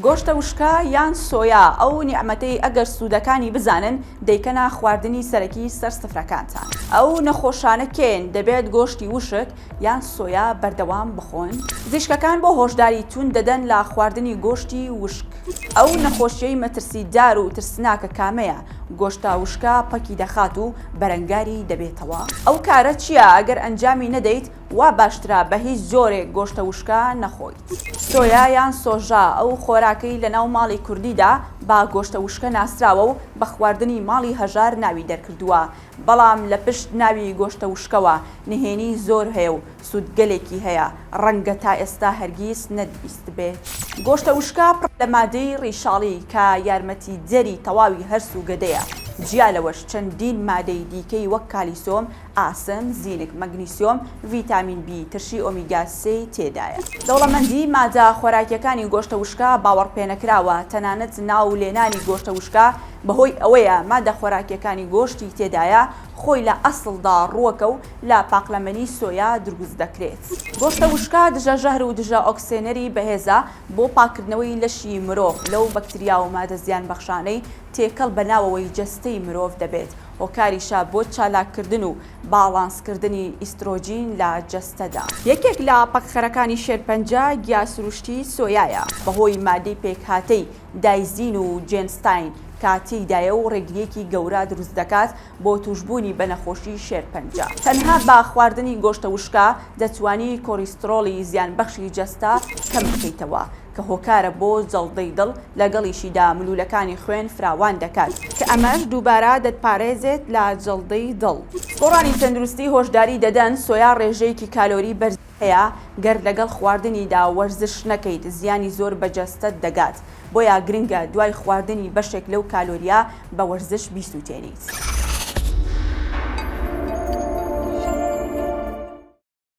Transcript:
گۆشتە وشکە یان سۆیا ئەو نیعمەتەی ئەگەر سوودەکانی بزانن دەیکەنە خواردنی سەرەکی سەر سفرەکانتان. ئەو نەخۆشانە کێن دەبێت گۆشتی وشک یان سۆیا بەردەوام بخۆن؟ پزیشکەکان بۆ هۆشداری توند دەدەن لە خواردنی گۆشتی وشک. ئەو نەخۆشیەی مەترسیدار و ترسناکە کامەیە؟ گۆشتە وشکە پەکی دەخات و بەرەنگاری دەبێتەوە؟ ئەو کارە چیە ئەگەر ئەنجامی نەدەیت وا باشترە بە هیچ جۆرێک گۆشتە وشکە نەخۆیت. سۆیا یان سۆژا، ئەو خۆراکەی لە ناو ماڵی کوردیدا بە گۆشتە وشکە ناسراوە و بە خواردنی ماڵی هەژار ناوی دەرکردووە، بەڵام لە پشت ناوی گۆشتە وشکەوە نهێنی زۆر هەیە و سوودگەلێکی هەیە، ڕەنگە تا ئێستا هەرگیز نەتبیستبێت. گۆشتە وشکە پڕە لە مادەی ڕیشاڵی کە یارمەتیدەری تەواوی هەرس و گەدەیە، جیا لەوەش چەندین مادەی دیکەی وەک کالیسۆم، ئاسن، زینک، مەگنیسیۆم، ڤیتامین بی، ترشی ئۆمیگا سێی تێدایە. دەوڵەمەندی مادە خۆراکیەکانی گۆشتە وشکە باوەڕپێنەکراوە، تەنانەت ناو لێنانی گۆشتە وشکە بەهۆی ئەوەیە مادە خۆراکیەکانی گۆشتی تێدایە خۆی لە ئەسڵدا ڕووەکە و لە پاقلەمەنی سۆیا دروست دەکرێت. گۆشتە وشکە دژە ژەهر و دژە ئۆکسێنەری بەهێزە بۆ پاککردنەوەی لەشی مرۆڤ لەو بەکتریا و مادە زیانبەخشانەی تێکەڵ بە ناوەوەی جەستەی مرۆڤ دەبێت هۆکاریشە بۆ چالاککردن و باڵانسکردنی ئیسترۆجین لە جەستەدا. یەکێک لە پەکخەرەکانی شێرپەنجە گیا سروشتی سۆیایە، بەهۆی مادەی پێکهاتەی دایزین و جێنستاین کە تێیدایە و ڕێگرییەکی گەورە دروست دەکات بۆ تووشبوونی بە نەخۆشی شێرپەنجە. تەنها بە خواردنی گۆشتە وشکە دەتوانی کۆریسترۆڵی زیانبەخشی جەستە کەم بکەیتەوە، کە هۆکارە بۆ جەڵدەی دڵ، لەگەڵیشیدا ملوولەکانی خوێن فراوان دەکات، کە ئەمەش دووبارە دەتپارێزێت لە جەڵدەی دڵ. گۆڕانی تەندروستی هۆشداری دەدەن، سۆیا ڕێژەیەکی کالۆری بەرزی هەیە، گەر لەگەڵ خواردنیدا وەرزش نەکەیت زیانی زۆر بە جەستەت دەگات، بۆیە گرنگە دوای خواردنی بەشێک لەو کالۆرییە بە وەرزش بیسووتێنیت.